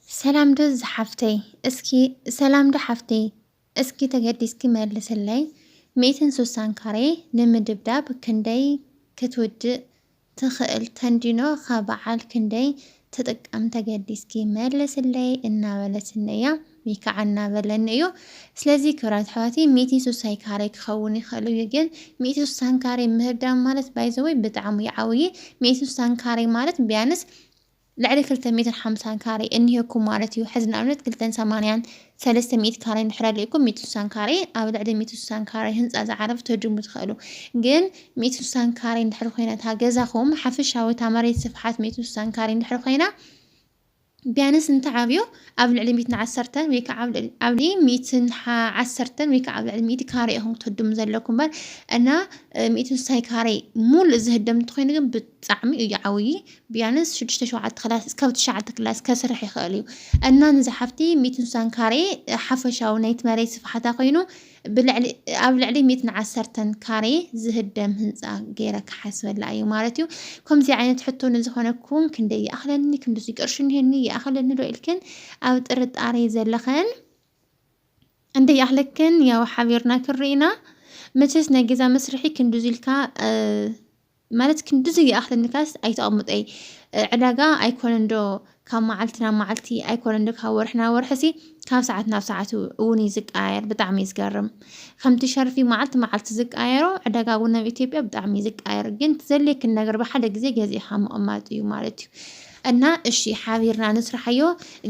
ሰላም ዶ ዝሓፍተይ እስኪ ሰላም ዶ ሓፍተይ እስኪ ተገዲስኪ መልስለይ ሚእትን ሱሳን ካሬ ንምድብዳብ ክንደይ ክትውድእ ትኽእል ተንዲኖ ኸበዓል ክንደይ ትጥቀም ተገዲስኪ መልስለይ እናበለትኒ እያ ወይ ከዓ እናበለኒ እዩ ስለዚ ክብራት ኣሕዋቲ ሚእቲ ሱሳይ ካሬ ክኸውን ይኽእል እዩ ግን ሚእቲ ሱሳን ካሬ ምህዳም ማለት ባይዘወይ ብጣዕሚ ይዓብይ ሚእቲ ሱሳን ካሬ ማለት ቢያንስ ልዕሊ ክልተ ሚእትን ሓምሳን ካሬ እኒሀኩም ማለት እዩ። ሕዚ ንኣብነት ክልተን ሰማንያን ሰለስተ ሚእቲ ካሬ እንድሕር ኣልዩኩም ሚእቲ ስሳን ካሬ ኣብ ልዕሊ ሚእቲ ስሳን ካሬ ህንፃ ዝዓረፍ ክትህድሙ ትኸእሉ። ግን ሚእቲ ስሳን ካሬ እንድሕር ኮይና እታ ገዛኹም ሓፈሻዊ እታ መሬት ስፍሓት ሚእቲ ስሳን ካሬ እንድሕር ኮይና ቢያንስ እንተዓብዩ ኣብ ልዕሊ ሚእትን ዓሰርተን ወይ ከዓ ኣብ ልዕሊ ሚእትን ዓሰርተን ወይ ከዓ ኣብ ልዕሊ ሚእቲ ካሬ ኢኹም ክትህድሙ ዘለኩም እምበር እና ሚእቲ ስሳይ ካሬ ሙሉእ ዝህደም እንተኾይኑ ግን ብጣዕሚ እዩ ዓብዪ ቢያንስ ሽዱሽተ ሸውዓተ ክላስ እስካብ ትሽዓተ ክላስ ከስርሕ ይክእል እዩ እና ንዛ ሓፍቲ ሚእትን ስሳን ካሬ ሓፈሻዊ ናይቲ መሬት ስፍሓታ ኮይኑ ብልዕሊ ኣብ ልዕሊ ሚእትን ዓሰርተን ካሬ ዝህደም ህንፃ ገይረ ክሓስበላ እዩ ማለት እዩ ከምዚ ዓይነት ሕቶ ንዝኾነኩም ክንደይ ይኣኽለኒ ክንድዚ ቅርሺ እንሄኒ ይኣኽለኒ ዶ ኢልክን ኣብ ጥርጣሬ ዘለኸን እንደ ይኣኽለክን ያው ሓቢርና ክንርኢና መቸስ ናይ ገዛ መስርሒ ክንድዚ ኢልካ ማለት ክንድዚ ይኣኽለኒካስ ኣይተቐምጦይ ዕዳጋ ኣይኮነን ዶ ካብ መዓልቲ ናብ መዓልቲ ኣይኮነን ዶ ካብ ወርሒ ናብ ወርሒ ሲ ካብ ሰዓት ናብ ሰዓት እውን እዩ ዝቀያየር ብጣዕሚ እዩ ዝገርም ከምቲ ሸርፊ መዓልቲ መዓልቲ ዝቀያየሮ ዕዳጋ እውን ኣብ ኢትዮጵያ ብጣዕሚ እዩ ዝቀያየር ግን ትዘልየክን ነገር ብሓደ ግዜ ገዚእኻ ምቕማጥ እዩ ማለት እዩ እና እሺ ሓቢርና ንስራሓዮ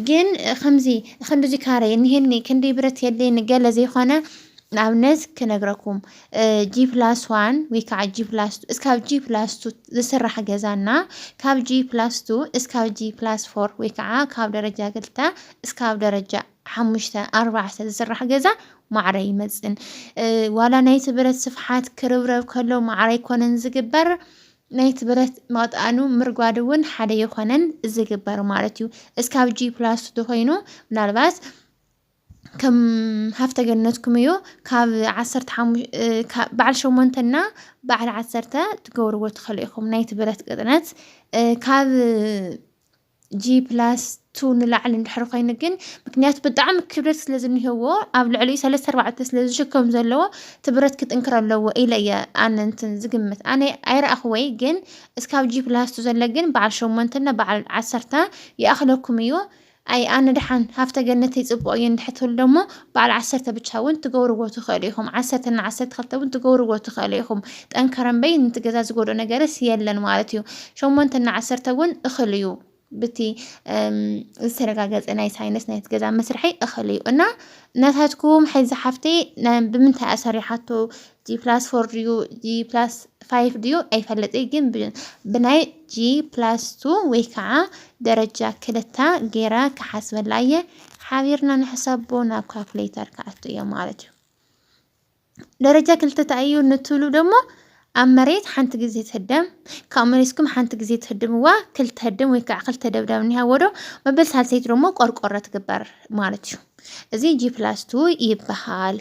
ግን ከምዚ ክንድዚ ካሬ እኒሄኒ ክንደይ ብረት የድልየኒ ገለ ዘይኮነ ንኣብነት ክነግረኩም ጂ ፕላስ ዋን ወይ ከዓ ጂ ፕላስ ቱ እስካብ ጂ ፕላስ ቱ ዝስራሕ ገዛ እና ካብ ጂ ፕላስ ቱ እስካብ ጂ ፕላስ ፎር ወይ ከዓ ካብ ደረጃ ክልተ እስካብ ደረጃ ሓሙሽተ ኣርባዕተ ዝስራሕ ገዛ ማዕረ ይመፅን ዋላ ናይቲ ብረት ስፍሓት ክርብረብ ከሎ ማዕረ ኣይኮነን ዝግበር ናይቲ ብረት መቕጣኑ ምርጓድ እውን ሓደ የኾነን ዝግበር ማለት እዩ እስካብ ጂ ፕላስ ቱ ተኮይኑ ምናልባት ከም ሃፍተ ገነትኩም እዩ ካብ ዓሰርተ ሓሙ- እ፣ ካብ በዓል ሸሞንተ እና በዓል ዓሰርተ ትገብርዎ ትኽእሉ ኢኹም ናይቲ ብረት ቅጥነት እ፣ ካብ ጂ ፕላስ ቱ ንላዕሊ እንድሕር ኮይኑ ግን ምክንያቱ ብጣዕሚ ክብደት ስለ ዝኒሄዎ ኣብ ልዕሊኡ ሰለስተ ኣርባዕተ ስለ ዝሽከም ዘለዎ እቲ ብረት ክጥንክር ኣለዎ ኢለ እየ ኣነ እንትን ዝግምት ኣነ ኣይረኣኹወይ ግን እስካብ ጂ ፕላስ ቱ ዘሎ ግን በዓል ሸሞንተ እና በዓል ዓሰርተ ይኣኽለኩም እዩ ኣይ ኣነ ደሓን ሃፍተ ገነተይ ጽቡቅ እዩ እንድሕር ትብሉ ደሞ በዓል ዓሰርተ ብቻ ውን ትገብርዎ ትክእሉ ኢኩም ዓሰርተ እና ዓሰርተ ክልተ ውን ትገብርዎ ትክእሉ ኢኩም ጠንከር እምበይ ንቲ ገዛ ዝጎድኦ ነገርስ የለን ማለት እዩ ሸሞንተ እና ዓሰርተ ውን እክል እዩ ብቲ ዝተረጋገጸ ናይ ሳይንስ ናይቲ ገዛ መስርሒ እክል እዩ እና ናታትኩም ሕዚ ሓፍተይ ብምንታይ እያ ሰሪሓቶ ጂ ፕላስ ፎር ድዩ ጂ ፕላስ ፋይቭ ድዩ ኣይፈለጥይ ግን ብናይ ጂ ፕላስ ቱ ወይ ከዓ ደረጃ ክልታ ገይረ ክሓስበላ እየ ሓቢርና ንሕሰቦ ናብ ካልኩሌተር ክኣቱ እየ ማለት እዩ ደረጃ ክልተ እንታይ እዩ ንትብሉ ደሞ ኣብ መሬት ሓንቲ ግዜ ትህደም ካብ መሬትኩም ሓንቲ ግዜ ትህድምዋ ክልተ ህድም ወይ ከዓ ክልተ ደብዳብ እኒሃዎ ዶ መበል ሳልሰይቲ ደሞ ቆርቆሮ ትግበር ማለት እዩ እዚ ጂ ፕላስ ቱ ይበሃል።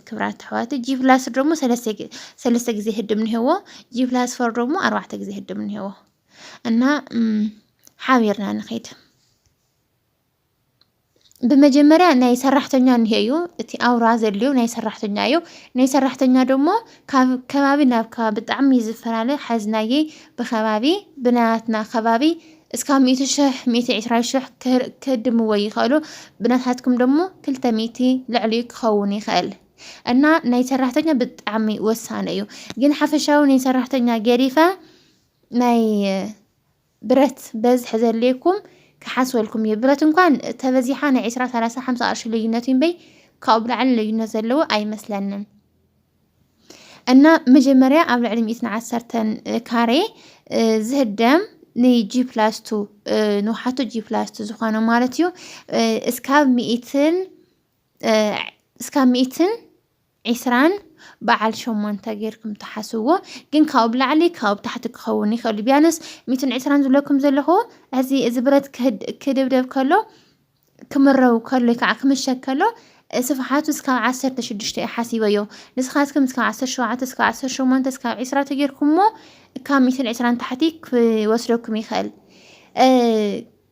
ክብራት ኣሕዋት ጂ ፕላስ ደሞ ሰለስተ ግዜ ህድም እኒሄዎ ጂ ፕላስ ፎር ደሞ ኣርባዕተ ግዜ ህድም እኒሄዎ እና ሓቢርና ንኸይድ ብመጀመርያ ናይ ሰራሕተኛ እኒሄ እዩ እቲ ኣውራ ዘልዩ ናይ ሰራሕተኛ እዩ ናይ ሰራሕተኛ ደሞ ካብ ከባቢ ናብ ከባቢ ብጣዕሚ እዩ ዝፈላለ ሓዝናየይ ብኸባቢ ብናያትና ከባቢ እስካብ ሚእቲ ሽሕ ሚእቲ ዕስራ ሽሕ ክህድምዎ ይኸእሉ ብናታትኩም ደሞ ክልተ ሚእቲ ልዕሊኡ ክኸውን ይኸእል እና ናይ ሰራሕተኛ ብጣዕሚ ወሳነ እዩ ግን ሓፈሻዊ ናይ ሰራሕተኛ ገዲፈ ናይ ብረት በዝሒ ዘድልየኩም ክሓስበልኩም እዩ ብረት እንኳን ተበዚሓ ናይ ዕስራ ሰላሳ ሓምሳ ቅርሺ ልዩነት እዩምበይ ካብኡ ብላዕሊ ልዩነት ዘለዎ ኣይመስለንን እና መጀመርያ ኣብ ልዕሊ ሚእትን ዓሰርተን ካሬ ዝህደም ንጂ ፕላስ ቱ ንውሓቱ ጂ ፕላስ ቱ ዝኾነ ማለት እዩ እስካብ ሚእትን እስካብ ሚእትን ዒስራን በዓል ሸሞንተ ጌርኩም ትሓስዎ ግን ካብኡ ብላዕሊ ካብኡ ታሕቲ ክኸውን ይኽእል ቢያንስ ሚትን ዕስራን ዝብለኩም ዘለኹ እዚ እዚ ብረት ክድብደብ ከሎ ክምረው ከሎ ከዓ ክምሸግ ከሎ ስፍሓቱ እስካብ ዓሰርተ ሽዱሽተ እዩ ሓሲበዮ ንስኻትኩም እስካብ ዓሰርተ ሸውዓተ እስካብ ዓሰርተ ሸሞንተ እስካብ ዒስራ ተጌርኩሞ ካብ ሚእትን ዒስራን ታሕቲ ክወስደኩም ይኽእል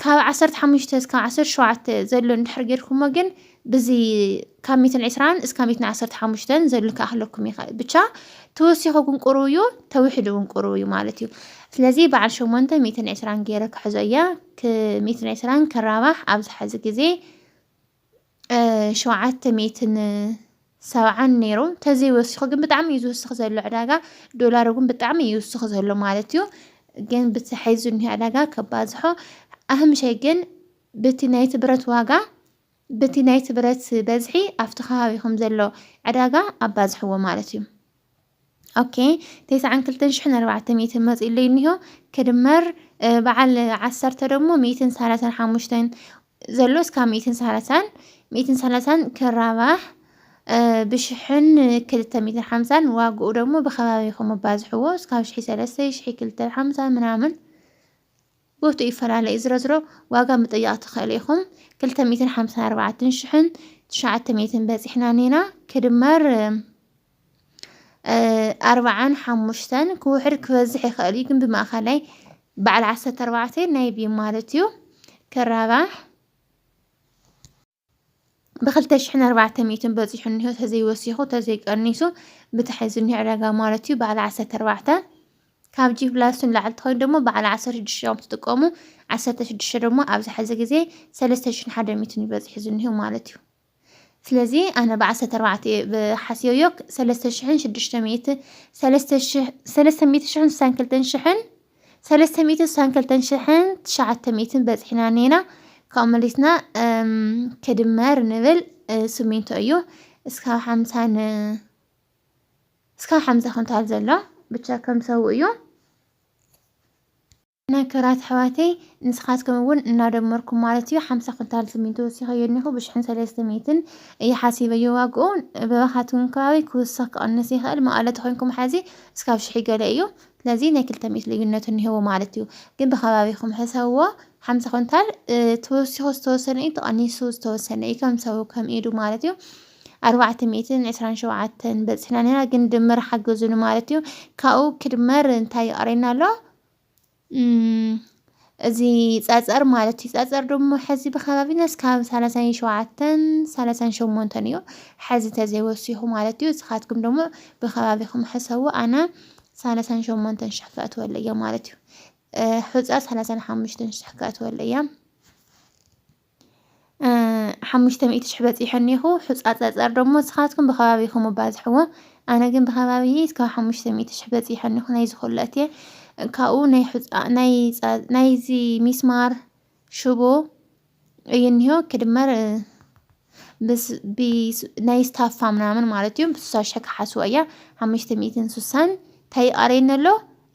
ካብ ዓሰርተ ሓሙሽተ እስካብ ዓሰርተ ሸውዓተ ዘሎ እንድሕር ጌርኩሞ ግን ብዚ ካብ ሚእትን ዒስራን እስካብ ሚእትን ዓሰርተ ሓሙሽተን ዘሎ ክኣኽለኩም ይኽእል ብቻ ተወሲኹኩም ቁሩብ እዩ ተውሕድውን ቁሩብ እዩ ማለት እዩ ስለዚ በዓል ሸሞንተ ሚእትን ዒስራን ገይረ ክሕዞ እየ ክሚኢትን ዕስራን ክራባሕ ኣብዚ ሐዚ ግዜ ሸውዓተ ሚኢትን ሰብዓን ነይሩ ተዘይ ወሲኹ ግን ብጣዕሚ እዩ ዝውስኽ ዘሎ ዕዳጋ ዶላር እውን ብጣዕሚ እዩ ይውስኽ ዘሎ ማለት እዩ ግን ብቲ ሐዚ እኒሆ ዕዳጋ ከባዝሖ ኣህምሸይ ግን ብቲ ናይቲ ብረት ዋጋ በቲ ናይቲ ብረት በዝሒ ኣብቲ ከባቢኹም ዘሎ ዕዳጋ ኣባዝሕዎ ማለት እዩ። ok ቴስዓን ክልተን ሽሕን ኣርባዕተ ሚእትን መፂኡ ኣለይ እኒሆ ክድመር በዓል ዓሰርተ ደግሞ ሚእትን ሰላሳን ሓሙሽተን ዘሎ እስካብ ሚእትን ሰላሳን ሚእትን ሰላሳን ክራባሕ ብሽሕን ክልተ ሚእትን ሓምሳን ዋግኡ ደግሞ ብከባቢኹም ኣባዝሕዎ እስካብ ሽሒ ሰለስተ ሽሒ ክልተ ሓምሳ ምናምን ቦትኡ ይፈላለ እዩ ዝሮዝሮ ዋጋ ምጥያቅ ትክእሉ ኢኩም ክልተ ሚእትን ሓምሳን ኣርባዕትን ሽሕን ትሽዓተ ሚእትን በጺሕና ኔና ክድመር ኣርባዓን ሓሙሽተን ክውሕድ ክበዝሕ ይክእል እዩ ግን ብማእከላይ በዓል ዓሰርተ ኣርባዕተ ናይ ቢም ማለት እዩ ክራባሕ ብክልተ ሽሕን ኣርባዕተ ሚእትን በጺሑ እኒሆ ተዘይወሲኹ ተዘይቀኒሱ ብታሕት ዝኒሆ ዕዳጋ ማለት እዩ በዓል ዓሰርተ ኣርባዕተ ካብ ጂ ፕላስን ላዕሊ ትኸይዱ ደሞ በዓል ዓሰርተ ሽዱሽተ እዮም ትጥቀሙ ዓሰርተ ሽዱሽተ ደሞ ኣብዚ ሕዚ ግዜ ሰለስተ ሽሕን ሓደ ሚእትን እዩ በጺሑ ዝኒሆ ማለት እዩ ስለዚ ኣነ ብዓሰርተ ኣርባዕተ ሓስዮዮ ሰለስተ ሽሕን ሽዱሽተ ሚእቲ ሰለስተ ሽሕን ስሳን ክልተን ሽሕን ሰለስተ ሚእትን ስሳን ክልተን ሽሕን ትሽዓተ ሚእትን በፂሕና እኒና ካብኡ መሊስና ክድመር ንብል ስሚንቶ እዩ እስካብ ሓምሳን እስካብ ሓምሳ ኩንታል ዘሎ ብቻ ከም ሰው እዩ እና ክብራት ኣሕዋተይ ንስኻትኩም እውን እናደመርኩም ማለት እዩ ሓምሳ ኩንታል ስሚንቶ ወሲኸዮ እኒኹ ብሽሕን ሰለስተ ሚእትን እዩ ሓሲበዮ ዋግኡ በባኻትኩም ከባቢ ክውስኽ ክቕንስ ይኽእል መቐለ ተኮይንኩም ሓዚ እስካብ ሽሕ ገለ እዩ ስለዚ ናይ ክልተ ሚእቲ ልዩነት እኒሀዎ ማለት እዩ። ግን ብከባቢኹም ሕሰብዎ፣ ሓምሳ ኩንታል ተወሲኹ ዝተወሰነ እዩ፣ ተቐኒሱ ዝተወሰነ እዩ፣ ከም ሰቡ ከም ኢዱ ማለት እዩ። ኣርባዕተ ሚእትን ዕስራን ሸውዓተን በፂሕና እኒሀና፣ ግን ድምር ሓግዙኒ ማለት እዩ። ካብኡ ክድመር እንታይ ይቐረየና ኣሎ? እዚ ጸጸር ማለት እዩ። ጸጸር ደሞ ሐዚ ብከባቢና እስካብ ሰላሳን ሸውዓተን ሰላሳን ሸሞንተን እዩ ሐዚ ተዘይወሲኹ ማለት እዩ። እስኻትኩም ደሞ ብከባቢኹም ሕሰቡ ኣነ ሰላሳን ሸሞንተን ሽሕ ከእትወለይ እየ ማለት እዩ። ሑጻ ሰላሳን ሓሙሽተን ሽሕ ከእትወለይ እየ። ሓሙሽተ ሚእቲ ሽሕ በፂሑ እኒኹ ሑፃ ፀፀር ደሞ ንስኻትኩም ብኸባቢኹም ኣባዝሕዎ ኣነ ግን ብኸባቢ እስካብ ሓሙሽተ ሚእቲ ሽሕ በፂሑ እኒኹ ናይዚ ኩሉ እትየ ካብኡ ናይ ሑፃ ናይ ፃ- ናይዚ ሚስማር ሽቦ እዩ እኒሆ ክድመር እ፣ ብስ- ቢስ- ናይ ስታፋ ምናምን ማለት እዩ ብስሳ ሽሕ ክሓስቦ እያ ሓሙሽተ ሚእትን ስሳን እንታይ ይቐረየኒ ኣሎ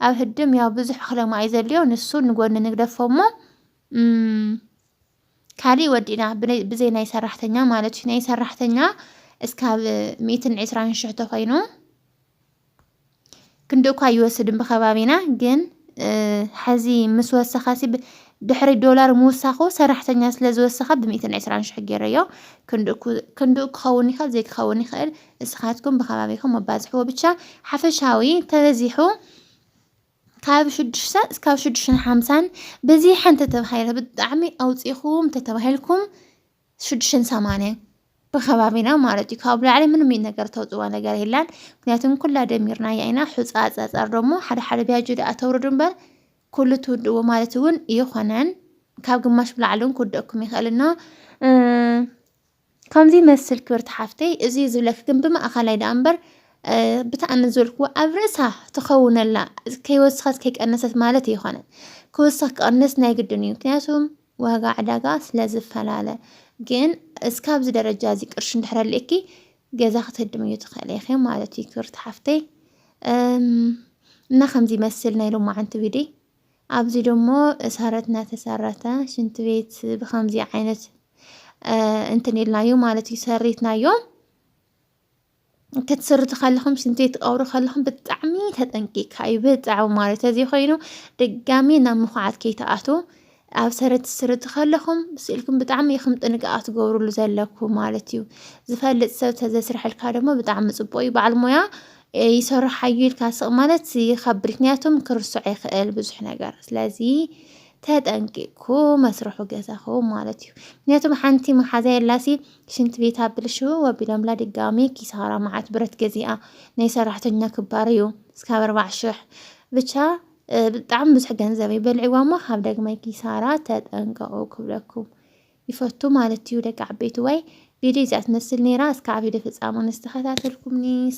ኣብ ህድም ያው ብዙሕ ክለማ እዩ ዘልዮ ንሱ ንጎኒ ንግደፎ እሞ እም ካሊእ ወዲእና ብለይ- ብዘይ ናይ ሰራሕተኛ ማለት እዩ ናይ ሰራሕተኛ እስካብ ሚእትን ዕስራን ሽሕ ተኾይኑ ክንዲ እኳ ይወስድን ብኸባቢና ግን እ፣ ሐዚ ምስ ወሰኸሲ ብ- ድሕሪ ዶላር ምውሳኹ ሰራሕተኛ ስለ ዝወሰኸ ብሚእትን ዕስራን ሽሕ ገይረዮ ክንድኡ ክው- ክንድኡ ክኸውን ይኽእል ዘይክኸውን ይኽእል እስኻትኩም ብኸባቢኹም ኣባዝሕዎ ብቻ ሓፈሻዊ ተበዚሑ ካብ ሽዱሽተ እስካብ ሽዱሽተን ሓምሳን በዚ ሓንቲ ተባሂለ ብጣዕሚ ኣውፂእኹም ተተባሂልኩም ሽዱሽተን ሰማንያን ብከባቢና ማለት እዩ ካብ ላዕሊ ምንም እዩ ነገር ተውፅዋ ነገር የላን ምክንያቱም ኩላ ደሚርናያ ኢና ሑፃ ፀፀር ደሞ ሓደ ሓደ ቢያጆ ድኣ ተውርዱ እምበር ኩሉ ትውድዎ ማለት እውን ይኾነን ካብ ግማሽ ብላዕሊ እውን ክውደኩም ይኽእል እና ከምዚ ይመስል ክብርቲ ሓፍተይ እዚ ዝብለኪ ግን ብማእኸላይ ደኣ እምበር ብታእሚ ዝበልክዎ ኣብ ርእሳ ትኸውነላ ከይወሰኸት ከይቀነሰት ማለት ኣይኮነን ክውሰኽ ክቐንስ ናይ ግድን እዩ ምክንያቱም ዋጋ ዕዳጋ ስለ ዝፈላለ ግን እስካብዚ ደረጃ እዚ ቅርሺ እንድሕር ኣልእኪ ገዛ ክትህድምዩ ትኽእሊ ኢኺ ማለት እዩ ክብርቲ ሓፍተይ እና ከምዚ ይመስል ናይ ሎማዓንቲ ቪድዮ ኣብዚ ደሞ ሳረት ናተሳራታ ሽንት ቤት ብከምዚ ዓይነት እንትን ኢልናዮ ማለት እዩ ሰሪትናዮ ክትስርቱ ከለኹም ሽንቲ ቤት ትቀብሩ ከለኹም ብጣዕሚ ተጠንቂካ እዩ ብጣዕሚ ማለት እዚ ኮይኑ ድጋሚ ናብ ምኹዓት ከይትኣቱ ኣብ ሰረት ትስርቱ ከለኹም ስእልኩም ብጣዕሚ ኢኹም ጥንቃቐ ትገብሩሉ ዘለኩ ማለት እዩ። ዝፈልጥ ሰብ ተዘስርሐልካ ደግሞ ብጣዕሚ ጽቡቅ እዩ። በዓል ሞያ ይሰርሖ ኣዩ ኢልካ ስቅ ማለት ይከብድ ምክንያቱም ክርሶዕ ይክእል ብዙሕ ነገር ስለዚ ተጠንቂቅኩ መስርሑ ገዛኹ ማለት እዩ ምክንያቱም ሓንቲ መሓዛ የላሲ ሽንት ቤት ኣብልሽው ወቢሎምላ ድጋሚ ኪሳራ መዓት ብረት ገዚኣ ናይ ሰራሕተኛ ክባር እዩ እስካብ ኣርባዕ ሽሕ ብቻ ብጣዕሚ ብዙሕ ገንዘብ እዩ በልዕዋ እሞ ካብ ደግማይ ኪሳራ ተጠንቀቁ ክብለኩም ይፈቱ ማለት እዩ ደቂ ዓበይቲ ወይ ቪድዮ እዚኣ ትመስል ነይራ እስካብ ቪድዮ ፍጻሙ ንዝተኸታተልኩምኒ